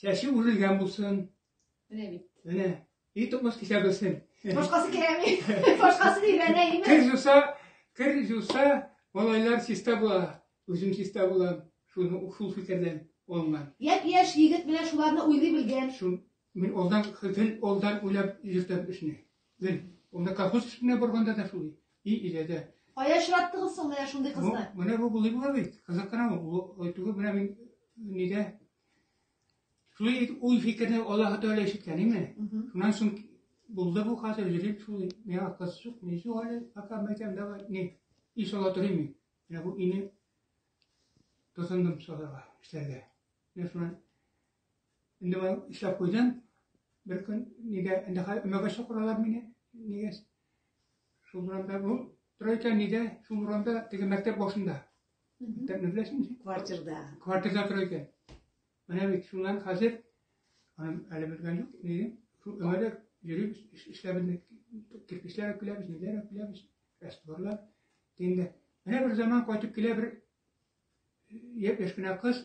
Чәче үрелгән булсын. Менә бит. Менә. И токмас кисә белсен. Башкасы кирәкми. Башкасы дип әнә име? Кер жуса, кер жуса, малайлар чиста була. Үзем чиста булам. Шуны шул фикердән алган. Яп яшь егет менә шуларны уйлый белгән. Шул мин алдан гел алдан уйлап йөртәм эшне. Гел. Анда колхоз эшенә барганда да шулай. И иләдә. Кая очраттыгыз соң менә шундый кызны? Менә бу булый була бит. Кызык кына бу. Әйтүгә менә мин нидә Шулай итеп, ул фикерне Аллаһ Тәгалә ишеткән име? Шуннан соң булды бу хәзер җирем шул, миңа кыз шук, мин шул әле, пока мәйтәм, давай, не, и сала торыйм мин. Менә бу ине тотындым салырга, эшләргә. Менә шуннан, инде мин эшләп куйдым, бер көн, нигә, инде хәзер өмәгә чакыралар мине, нигә, шул урамда, бу, тора икән, нигә, шул урамда, теге мәктәп башында, Күптән беләсең инде. Квартирда. Квартирда тора икән. Менә бит шуннан хәзер аным әле белгән юк. Ни? Шул өмәдә йөрибез, эшләп кирпечләр өкләбез, ниләр өкләбез, растворлар. Дигәндә, менә бер заман кайтып килә бер яшь кенә кыз.